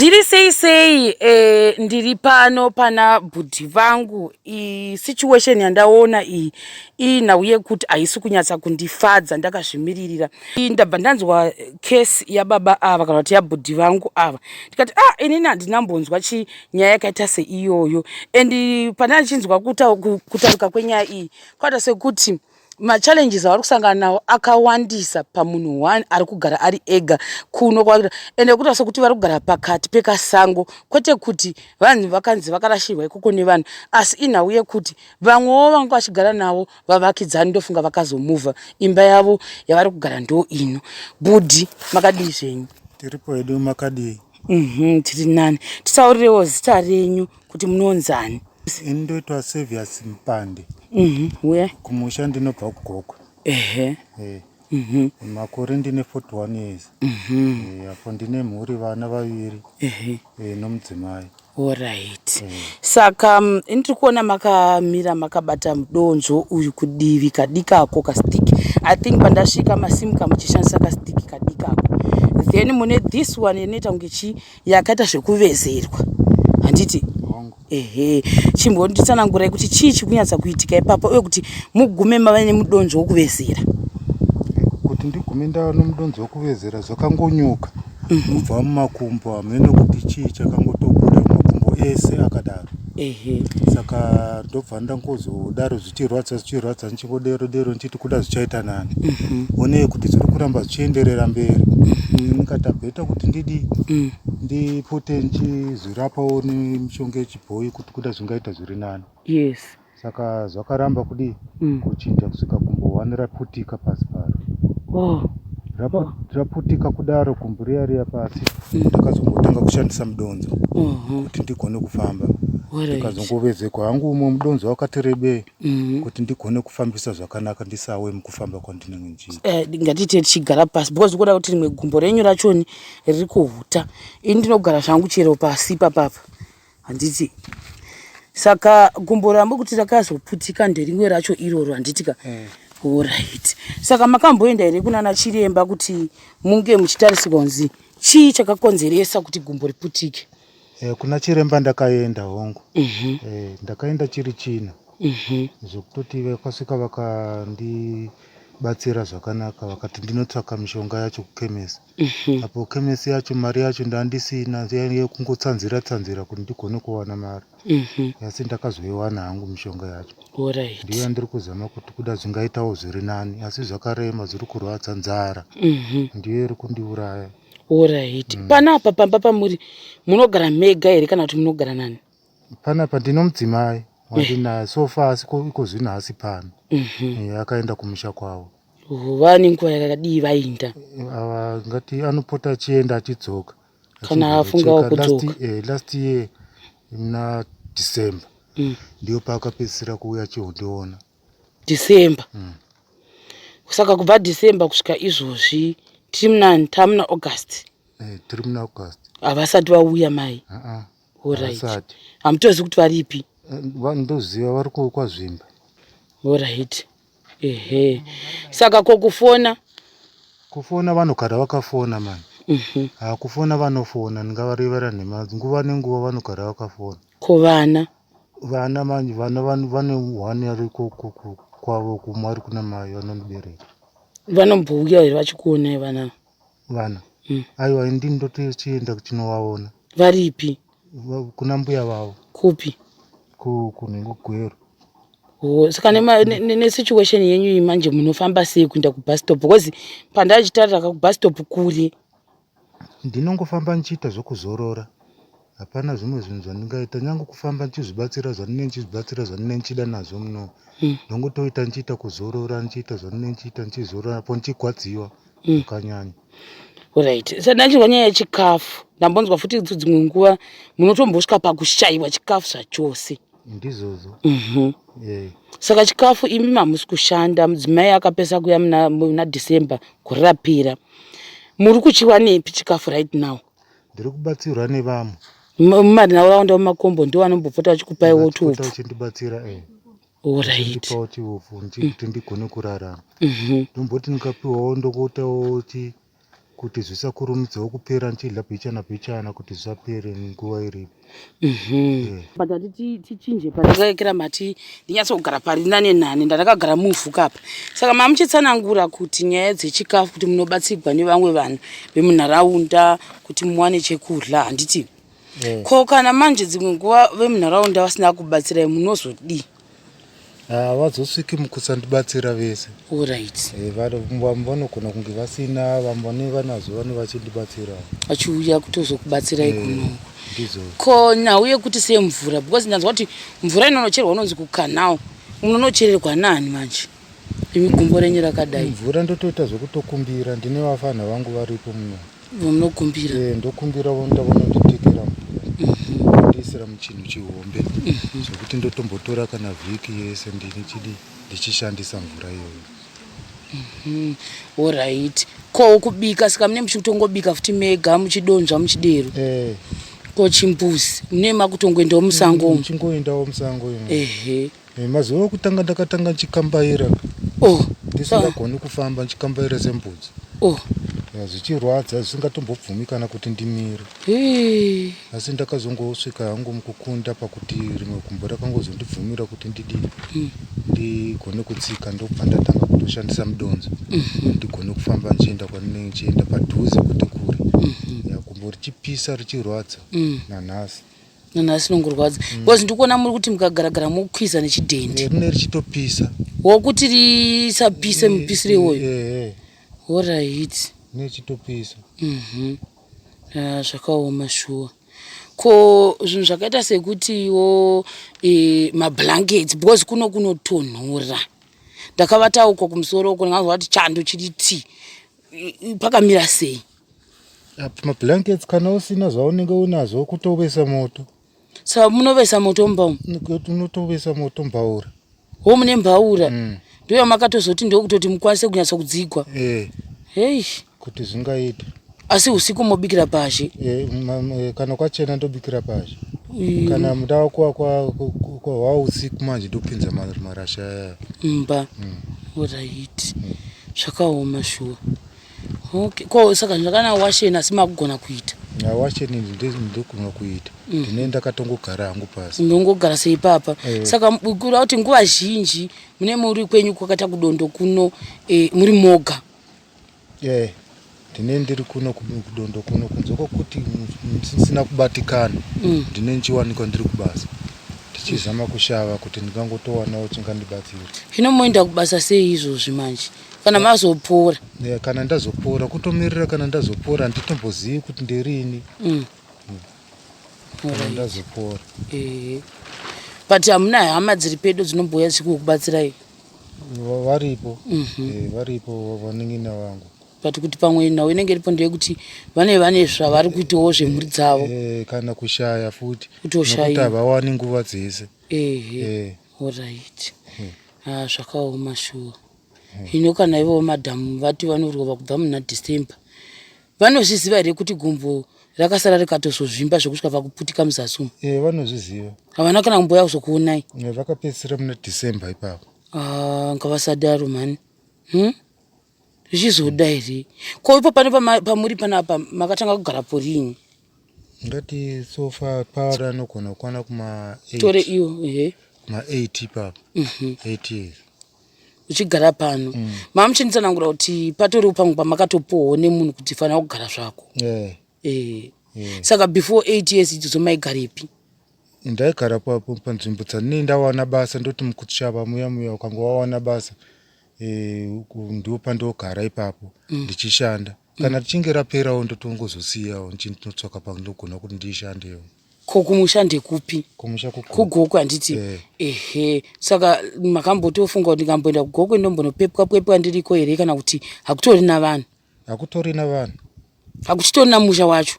Ndiri sei sei eh, ndiri pano pana bhudhi vangu iyi situation yandaona iyi iyi nhau yekuti haisi kunyatsa kundifadza ndakazvimiririra iyi ndabva ndanzwa case yababa ava kana kuti yabhudhi vangu ava ndikati ah inini handinambonzwa chi nyaya yakaita seiyoyo and pandandichinzwa kutaruka kwenyaya iyi kwata sekuti machallenges avari kusangana nawo akawandisa pamunhu one ari kugara ari ega kuno kwaita ende kuita sokuti vari kugara pakati pekasango kwete kuti vanhu vakanzi vakarashirwa ikoko nevanhu asi inhau yekuti vamwewo vanga vachigara navo vavakidzani ndofunga vakazomuvha imba yavo yavari kugara ndo ino budi makadii zvenyu tiripo hedu makadii mhm, tiri nani tisaurirewo zita renyu kuti munonzani ini ndoitwa servius mpande mm -hmm. kumusha ndinobva kugokwe ehe hey. Eh. mm -hmm. makore ndine 41 years mm -hmm. hey, eh, apo ndine mhuri vana vaviri ehe hey, eh, nomudzimai orit hey. saka mm, ini tiri kuona makamira makabata mudonzvo uyu kudivi kadikako kastiki i think pandasvika masimuka muchishandisa kastiki kadikako then mune this one inoita kunge chii yakaita zvekuvezerwa handiti ehe chimbonditsanangurai kuti chii chikunyatsa kuitika ipapa uye kuti mugume mava nemudonzvo wokuvezera kuti ndigume ndava nomudonzvo wokuvezera zvakangonyuka mhm. kubva mumakumbo hamene kuti chii chakangotobuda mumakumbo ese akadaro ehe saka ndobva ndangozodaro zvichirwadza zvichirwadza ndichingodero dero ndichiti kuda zvichaita nani mhm. onei kuti zviri kuramba zvichienderera mberi mhm. ndikata bheta kuti ndidi mm. ndipote ndichizvirapawo nemishonga yechibhoyi kuti kuda zvingaita zviri nani yes saka zvakaramba kudii mm. kuchinja kusvika kumbohwani raputika pasi paro oh. Oh. raputika kudaro kumburiya riya pasi ndakazongotanga kushandisa mudonzo mhm. kuti ndigone kufamba ndikazongovezekwa hangu umwe mudonzo wakati rebei mhm. kuti ndigone kufambisa zvakanaka ndisawe mukufamba kwandinenge ndichiita eh, ngatite tichigara pasi because ukuda kuti rimwe gumbo renyu rachoni riri kuhuta ini ndinogara zvangu chero pasi papapa handiti saka gumbo rambo kuti rakazoputika nderimwe racho iroro handitika mm. orit saka makamboenda here kunana chiremba kuti munge muchitarisirwa kunzi chii chakakonzeresa kuti gumbo riputike eh, kuna chiremba ndakaenda hongu mm -hmm. eh, ndakaenda chiri chino mm -hmm. zvekutoti vakasvika vakandi batsira zvakanaka vakati ndinotsvaka mishonga yacho kuchemist Mhm. apo kemesi yacho mari yacho ndandisina yekungotsanzira tsanzira kuti ndigone kuwana mari Mhm. asi ndakazoiwana hangu mishonga yacho ndiyo Alright. yandiri kuzama kuti kuda zvingaitawo zviri nani asi zvakarema zviri kurwadza nzara Mhm. ndiyo iri kundiuraya Alright. Mm. Panapa pamba pamuri munogara mega here kana kuti munogara nani? Panapa ndino mudzimai wandinaye so far asi ko- iko zvino haasi pano Eh, akaenda kumusha kwavo vava nenguva yakadii vainda ava ngati anopota achienda achidzoka Kana afungawo Achimbocheka. Last- kudzoka. eh, last year muna december Mm. ndiyo paakapedzisira kuuya achiondiona december Mm. saka kubva december kusvika izvozvi tiri muna tamuna august Eh, tiri muna august havasati vauya mai Aa, Horaiti. Asati. Hamutozivi kuti varipi? Ndoziva vari kwazvimba. Horaiti. Ehe. Saka ko kufona? Kufona vanogara vakafona mani. Mhm. Ha kufona vanofona ndingavarevera nhema nguva nenguva vanogara vakafona. Ko vana? Vana manje vana vane one ari kwavo kumwe ari kuna mai vanondibereka. Vanombouya here vachikuonai vana? vana Mm. aiwa ini ndini ndotochienda kuchinovaona varipi Va- kuna mbuya vavo kupi ku- kunhengo gwero Oh, saka nema- ne- ne- nesituation yenyu iyi manje munofamba sei kuenda kubus stop because pandachitarira ka kubus stop kuri ndinongofamba ndichiita zvokuzorora Hapana zvimwe zvinhu zvandingaita nyange kufamba ndichizvibatsira zvandine ndichizvibatsira zvandine ndichida nazvo muno mm. ndongotoita ndichiita kuzorora ndichiita zvandine ndichiita ndichizorora apo ndichigwadziwa mm. zvakanyanya mm. orit sandachirwa nyaya yechikafu ndambonzwa futi idzo dzimwe nguva munotombosvika pakushaiwa chikafu zvachose ndizvozvo mm -hmm. yeah. saka chikafu imi mamusi kushanda mudzimai akapesa kuya muna december kurapira muri kuchiwanepi chikafu right now ndiri kubatsirwa nevamwe mumarinhaura wanda mumakombo ndo vanombopota vachikupaiwo tuupu uchindibatsira e eh. oraiipawo chiupu kuti ndigone kurarama mhm. ndomboti ndikapiwawo ndokuitawo ti kuti zvisakurumidzawo kupera ndichidla bhichana bhichana kuti zvisapere nguva iripo Mhm. but hati ti- tichinje pari ndakaikira mati ndinyatsogara pari nane nani ndandakagara muvhu kapa saka mamuchitsanangura kuti nyaya dzechikafu kuti munobatsirwa nevamwe vanhu vemunharaunda kuti muwane chekudya handiti ko kana manje dzimwe nguva vemunharaunda vasina kubatsirai munozodii havazosviki mukusandibatsira vese orit eh, vamwe vanogona kunge vasina vamwe vane vanazo vane vachindibatsira vachiuya kutozokubatsirai eh, kuno ko nhau yekuti semvura because ndanzwa kuti mvura inonocherwa unonzi kukanao munonochererwa nani manje imi gumbo renyu rakadai mvura ndotoita zvekutokumbira ndine vafana vangu varipo muno Munokumbira. Eh, ndokumbira vonda vononditekera mhm. ndiisira muchinhu chihombe mhm. zvekuti ndotombotora kana vhiki yese ndini chidi ndichishandisa mvura iyoyo. Mhm. Alright. Ko kubika saka mune muchitongobika futi mega muchidonzva muchidero. Eh. Ko chimbuzi mune makutongoendawo musango. Muchingoendawo musango. Ehe. Eh, mazuva okutanga ndakatanga ndichikambaira oh. ndisingagoni kufamba ndichikambaira sembudzi oh. Eh, zvichirwadza zvisingatombobvumi kana kuti ndimire hey. asi ndakazongosvika hangu mukukunda pakuti rimwe gumbo rakangozondibvumira kuti ndidi mm. ndigone kutsika ndokubva ndatanga kutoshandisa mudonzo mm -hmm. ndigone kufamba ndichienda kwandinenge ndichienda padhuze kuti kure mm -hmm. gumbo richipisa richirwadza mm. nanhasi nanhasi nongorwadza mm. because ndiri kuona muri kuti mukagaragara mokwiza nechidhendi eh, rine richitopisa wokuti risapise eh, mupisire iwoyo eh, orit nechitopisa mhm. ah, zvakaoma shuwa ko zvinhu zvakaita sekutiwo mablankets because kuno kunotonhora ndakavataukwa kumusoro uko ndinganzwa kuti chando chiri tii pakamira sei apa mablankets kana usina zvaunenge unazvo kutovesa moto sa munovesa moto mbaura unotovesa moto mbaura ho mune mbaura mm. ndoyo makatozoti ndokutoti mukwanise kunyatsa kudzigwa eh. hei kuti zvingaita asi usiku mobikira pazhe eh, eh, kana kwachena ndobikira pazhe mm. kana muda wako kwahwa usiku manje ndopinza marasha aya mba mm. orit mm. zvakaoma shuwa okay ko saka zvakana washeni asi makugona kuita na washeni ndinogona kuita mm. ndine ndakatongogara hangu pasi ndongogara sei papa eh. saka kura kuti nguva zhinji mune muri kwenyu kwakaita kudondo kuno eh, muri moga eh. ndine ndiri kuno kudondo kuno kunze kwokuti ndisina kubatikana mm. ndine ndichiwanikwa ndiri kubasa ndichizama kushava kuti ndingangotowanawo chingandibatsira hino moenda kubasa sei izvozvi manje kana ah. mazopora eh, kana ndazopora kutomirira kana ndazopora handitombozivi kuti ndirini mm. mm. ndazopora eh. but hamuna hama dziri pedo dzinobhuya dzichikukubatsirai varipo mhm. eh, varipo vanin'ina vangu but kuti pamwe nhau inenge iripo ndeyekuti vane vane zvavari kuitawo zvemhuri dzavo eh, kana kushaya futi kutoshaya kuti havawani nguva dzese ehe eh. orit hmm. ah, zvakaoma shuwa hmm. hino kana ivowo madhamu vati vanorova kubva muna december vanozviziva here kuti gumbo rakasara rikatozozvimba zvekusvika vakuputika muzasi umu e, vanozviziva havana kana kumboya kuzokuonai vakapedzisira muna december ipapo ah, ngavasadaro mhani hmm? zvichizoda here ko ipo pane pamuri panapa makatanga kugara porini ndati so far paari anogona kukwana kuma tore iyo ehe ma 8 papa 8 mhm. years uchigara pano mm. mama muchinitsanangura kuti patoriwo pamwe pamakatopowo nemunhu kuti fanira kugara zvako yeah. eh. yeah. saka before 8 years idzodzo maigarepi ndaigara panzvimbo dzandinei ndawana basa ndoti mukuti shava muya muya ukanga wawana basa eh, ndiwo pandogara ipapo mm. ndichishanda mm. kana tichinge raperawo ndotongozosiyawo ndinotsvaka pandinogona kuti ndishandewo ko kumusha ndekupi kugoku handiti eh. ehe saka makambotofunga kuti ndingamboenda kugoku ndombonopepwa pwepwa ndiriko here kana kuti hakutori na vanhu hakutori na vanhu hakuchitori na musha wacho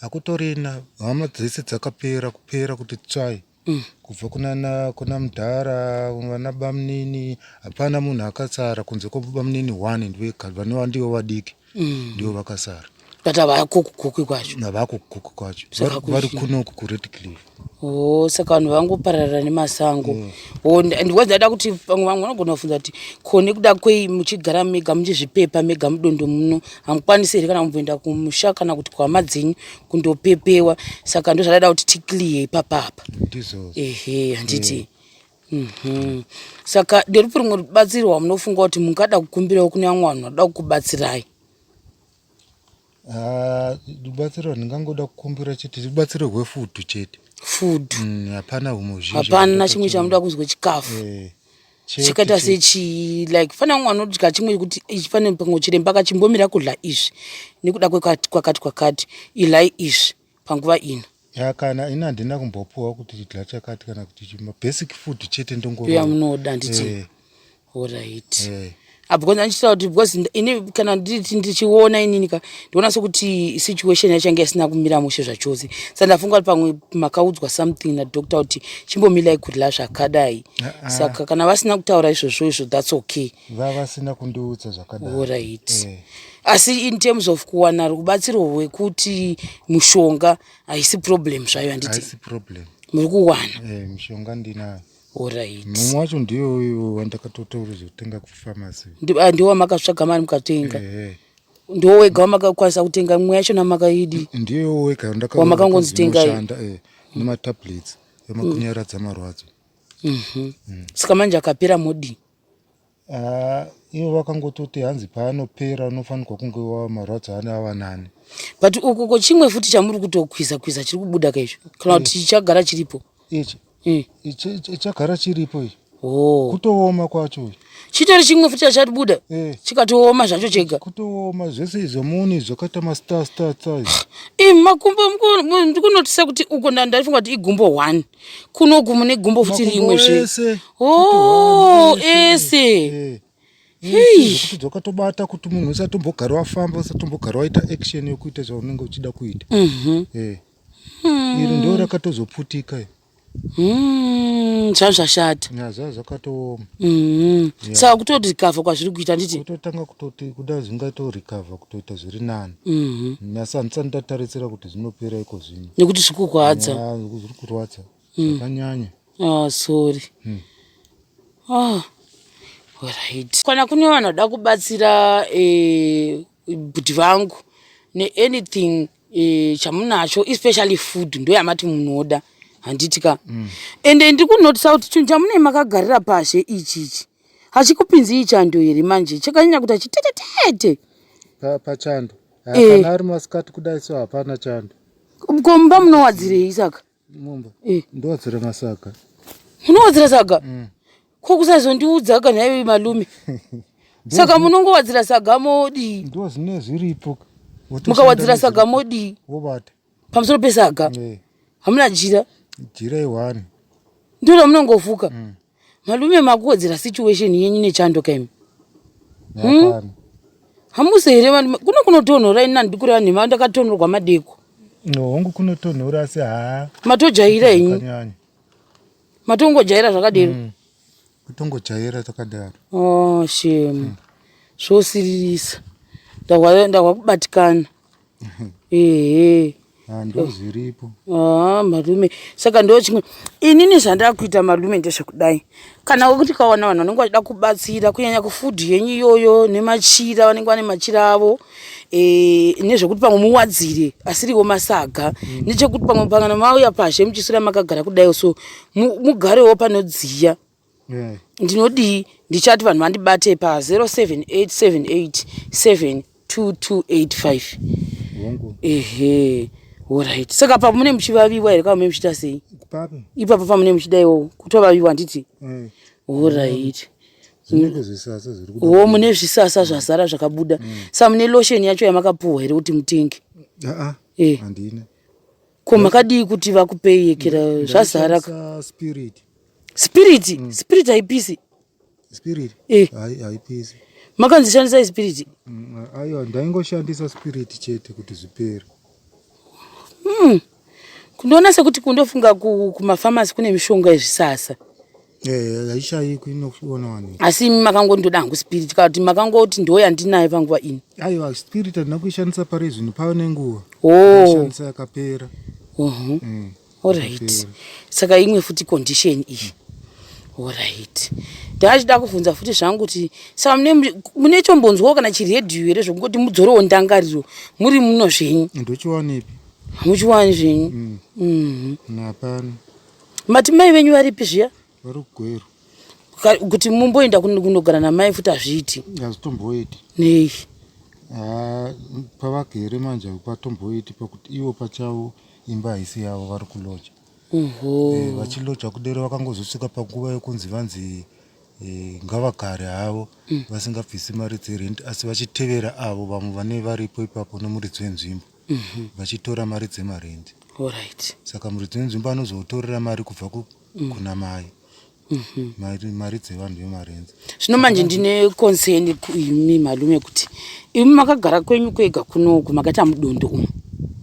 hakutorina hama dzese dzakapera kupera kuti tsvai mm. kubva kunana kuna mudhara vana bamunini hapana munhu akasara kunze kwebamunini one ndivanova ndivo vadiki mm. ndivo vakasara but havakukukuki kwacho havakukukuki kwacho vari kunoku kured cliff o oh, saka vanhu vangopararira nemasango mm. oh, ndiwadzada kuti vamwe vamwe vanogona kufunza kuti ko nekuda kwei muchigara mega muchizvipepa mega mudondo muno hamukwanisi here kana kumboenda kumusha kana kuti kwama dzenyu kundopepewa saka ndozvadaida kuti ticlear ipapapa ehe handiti eh. mhm. saka nderupi rumwe rubatsiro wamunofunga kuti mungada kukumbirawo kune vamwe vanhu vanoda kukubatsirai ah, rubatsiro randingangoda kukumbira chete rubatsiro rwefudu chete food mm, hapana humwe hapana chimwe chamuda kunzwa chikafu eh. chikaita sechii like fana kunge anodya chimwe chekuti fane pamwe chiremba akachimbomira kudla izvi nekuda kwekati kwakati kwakati ilai izvi panguva ino ya kana ini handina kumbopuwa kuti tidla chakati kana kuti chima basic food chete ndongoya munoda nditi eh. orit eh. Ah, because andichitaura kuti because ini kana ndichiona inini ka ndiona sekuti situation yachange isina kumira mushe zvachose sa ndafunga kuti pamwe makaudzwa something nadoctor kuti chimbomilai kurila zvakadai ah, ah. saka kana vasina kutaura izvozvo izvo thats okay vavasina kundiudza zvakadaioright eh. asi in terms of kuwana rubatsiro hwekuti mushonga haisi problem zvayo handiti muri kuwana eh, mishonga ndinayo Alright. Mumwe wacho ndiye uyu wandakatotaura zvekutenga kupharmacy. Ndi- ah, ndiwo wamakatsvaga mari mukatenga Ehe. ndiwo wega wamakakwanisa kutenga mimwe yacho namakaidi Ndiye wega wandakaona Wamakangonzi kuti tengai. inoshanda, eh, nematablets emakunyaradza marwadzo. saka manje akapera modi Ah, ivo vakangototi hanzi paanopera unofanirwa kunge wava marwadzo ane ava nani but uku ko chimwe futi chamuri kutokwiza kwiza chiri kubuda ka izvo kana kuti chichagara chiripo ichi Mm. ichi- ichi- ichagara chiripo ichi oh. kutooma kwacho ichi. chitori chimwe futi chachatibuda Eh. chikatooma zvacho chega kutooma zvese izvo muni zvakaita mastarstatsai imi makumbo muku- mu- ndikunotisa kuti uko nda- ndaifunga kuti igumbo one kuno gumo negumbo futi rimwe zve oh ese dzoka tobata kuti munhu usatombogara wafamba usatombogara waita action yokuita zvaunenge uchida kuita mhm. eh. hmm. iri ndo rakatozoputika hmm, zvazvashata zva zvakatooma hmm. saka kutoti recover kwazviri kuita nditi kutotanga kutoti kuda zvingaito recover kutoita zviri nani mhm. nyasa handisani tatarisira kuti zvinopera ikozvo nekuti zvikurwadza zvikurwadza hmm. zvakanyanya ah sorry hmm. ah right kana kune vanhu vada kubatsira eh, bhuti vangu neanything eh, chamunacho especially food ndo yamati munoda handiti ka hmm. ende ndikunotisa kuti chinhu chamunei makagarira pashe ichi ichi hachikupinzi ichando here manje chakanyanya kuti achitetetete pachando Eh, kana ari masikati kudai so hapana chando ko mumba munowadzirei saka mumba Eh. ndowadzira masaga munowadzira saga Mm. ko kusazondiudza ka nhaiwe malume saka munongowadzira saga modii ndo zvinee zviripo Wotoshandira mukawadzira saga modii wobata pamusoro pesaga eh. hamuna jira jira iwani ndiro ramunongofuka mm. malume makuwedzera situation yenyu nechando kaimi hmm? hamusi here valume kuno kunotonhora ini nandikureva nhema ndakatonhorwa madeko hongu kunotonhora asi haa matojaira henyu matongojaira zvakadero mm. kutongojaira takadaro oh, shemu mm. zvosiririsa ndahwa kubatikana ehe Ah, ndo zviripo haa malume saka ndo chimwe inini zvandava kuita malume ndezvekudai kana wekuti kawana vanhu vanenge vachida kubatsira kunyanya kufudhi yenyu iyoyo nemachira vanenge vane machira avo eh, nezvekuti pamwe muwadzire asiriwo masaga nechekuti pamwe pangana mauya pazhe muchiswera makagara kudai so mu- mugarewo panodziya mm. ndinodii ndichati vanhu vandibate pa 0787872285 ehe orit saka pa mune muchivaviwa here kava mune muchiita sei ipapo pamune muchida iwowo kutovaviwa handiti mm. orit wo mune zvisasa zvazara zvakabuda mm. sa mune lotion yacho yamakapuhwa here kuti mutenge ah, ah. Eh. ko makadii kuti vakupei yekera zvazara spirit spirit mm. spirit haipisi spirit eh. haipisi makanzi shandisai spirit mm, aiwa ndaingoshandisa spirit chete kuti zvipere mm. kundoona sekuti kundofunga kumafamasi kune mishonga yezvisasa Eh, haishaikwi inoonawaniwa asi imi makangoti ndoda hangu spirit kana kuti makangoti ndo yandinayo panguva ino aiwa spirit handina kuishandisa pari zvino pava nenguva oh. ishandisa yakapera uhu mm. orit saka imwe futi condition iyi orit ndaachida kuvhunza futi zvangu kuti saka mune chombonzwawo kana chiredhiyo here zvokungoti mudzorowo ndangariro muri muno zvenyu ndochiwanepi hamuchiwani zvenyu mm. mm-hmm. napano mati mai venyu varipi zviya vari kugweru kuti mumboenda kunogara namai futi hazviiti hazvitomboiti nei ah, pavagere manje patomboiti pakuti ivo pachavo imba haisi yavo vari kuloja eh, vachiloja kudero vakangozosvika panguva yokunzi vanzi eh, ngavagare havo mm. vasingabvisi mari dzerent asi vachitevera avo vamwe vane varipo ipapo nomuridzi wenzvimbo mhm. vachitora mari dzemarendi right. saka muridzi wenzvimbo anozotorera mari kubva ku, mm. kuna mai mhm. mari, mari dzevanhu vemarenzi zvino manje ndine concern kuimi malume kuti imi makagara kwenyu kwega kunoku makaita mudondo umu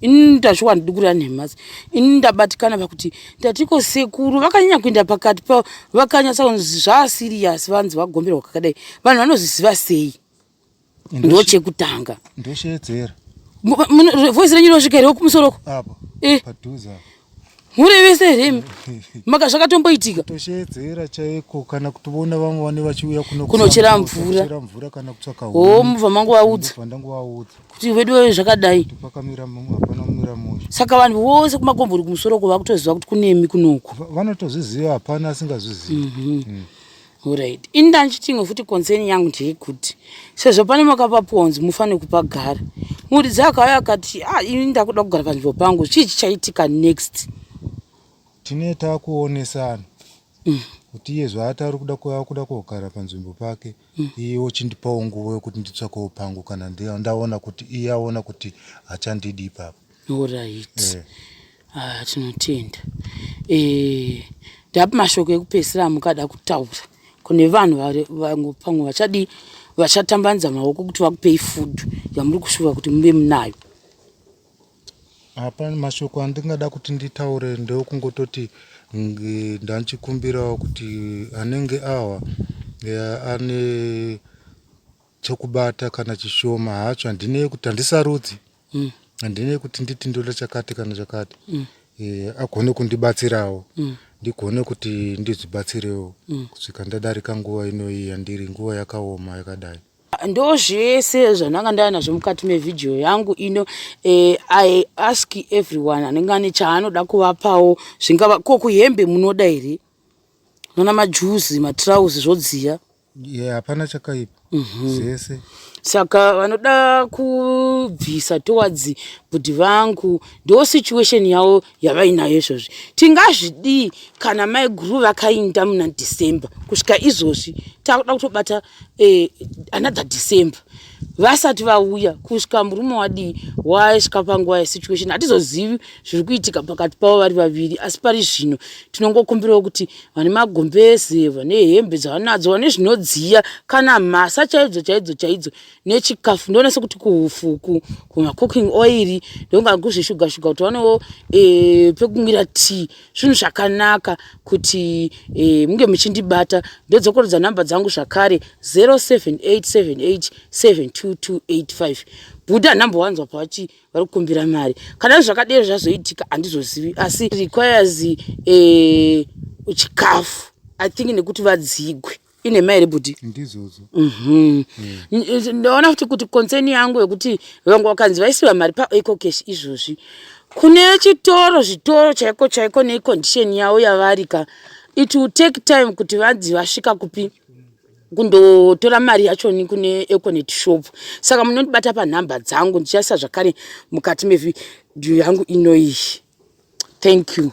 ini ndazviwa ndidi kurira nhemasi ini ndabatikana pakuti ndatiko sekuru vakanyanya kuenda pakati pavo vakanyatsa kunzi zvaasiriyasi vanzi vagomberwa kakadai vanhu vanoziziva sei ndochekutanga ndosheedzera voice renyu rinosvika here kumusoroko eh. mhuri vese here imi maka zvakatomboitika tosheedzera chaiko kana kuti vona vamwe vane vachiuya kunochera mvura mvura kana kutsvaka o mubva mangu vaudza kuti veduwe zvakadai pakamira mumwe hapana kumira musha saka vanhu vose kumakombori kumusoro ko vakutoziva kuti kunemi kunoku vanotozviziva hapana asingazvizivi mhm. mm. Alright. Ini ndanchiti imwe futi concern yangu ndeyekuti sezvo pane makapapuwa kunzi mufanire kupagara. Muridzi akauya akati, "Ah, ini ndakuda kugara panzvimbo pangu. Chii chichaitika next?" Tine takuonesana. Mm. Kuti iye zvaatari kuda kuda kugara panzvimbo pake, mm. iye ochindipawo nguva yokuti nditsvakewo pangu kana ndaona kuti iye aona kuti hachandidi ipapo. Alright. Eh. Ah, tinotenda. Eh, ndapa mashoko ekupesira amukada kutaura. Kune vanhu vari vangu pamwe vachadi vachatambanza maoko kuti vakupei food yamuri kushuva kuti muve munayo. Apa mashoko andingada kuti nditaure ndokungototi ndanchikumbirawo kuti anenge awa eh, ane chokubata kana chishoma hacho handinei kuti handisarudzi mm. handinei kuti nditi ndoda chakati kana chakati mm. e, agone kundibatsirawo mm. ndigone kuti ndizvibatsirewo mm. kusvika ndadarika nguva inoyi yandiri nguva yakaoma yakadai ndo zvese zvandanga ndava nazvo mukati mevhidhiyo yangu ino eh, i ask everyone anenge ane chaanoda kuvapawo zvingava ko kuhembe munoda here nona majuzi matrauzi zvodziya Yeah, hapana chakaipa zvese saka vanoda kubvisa towards bhudhi vangu ndo situation yavo yavainayo izvozvi tingazvidii kana mai guru vakainda muna december kusvika izvozvi takuda kutobata eh, another december vasati vauya kusvika murume wadii waisvika panguva yesituation hatizozivi zviri kuitika pakati pavo vari vaviri asi pari zvino tinongokumbirawo kuti vane magombeze vane hembe dzavanadzo vane zvinodziya kana mhasa chaidzo chaidzo chaidzo nechikafu ndoona sekuti kuhufuku kumacooking oiri ndonga kuzvishuga shuga kuti vanewo e, pekumwira tii zvinhu zvakanaka kuti eh, munge muchindibata ndodzokorodza nhamba dzangu zvakare 0787872285 buda nhamba wanzwa pavati vari kukumbira mari kana zvakadero zvazoitika handizozivi asi requires eh, chikafu i think nekuti vadzigwe inhema here bhudhi ndizodzo mhm. eh. ndaona futi kuti concern yangu yekuti vanga vakanzi vaisiva mari paeco cash izvozvi kune chitoro zvitoro chaiko chaiko necondition yavo yavari ka it will take time kuti vanzi vasvika kupi kundotora mari yachoni kune econet shop saka munondibata panhamba dzangu ndichaisa zvakare mukati mevhidhiyo yangu inoiyi thank you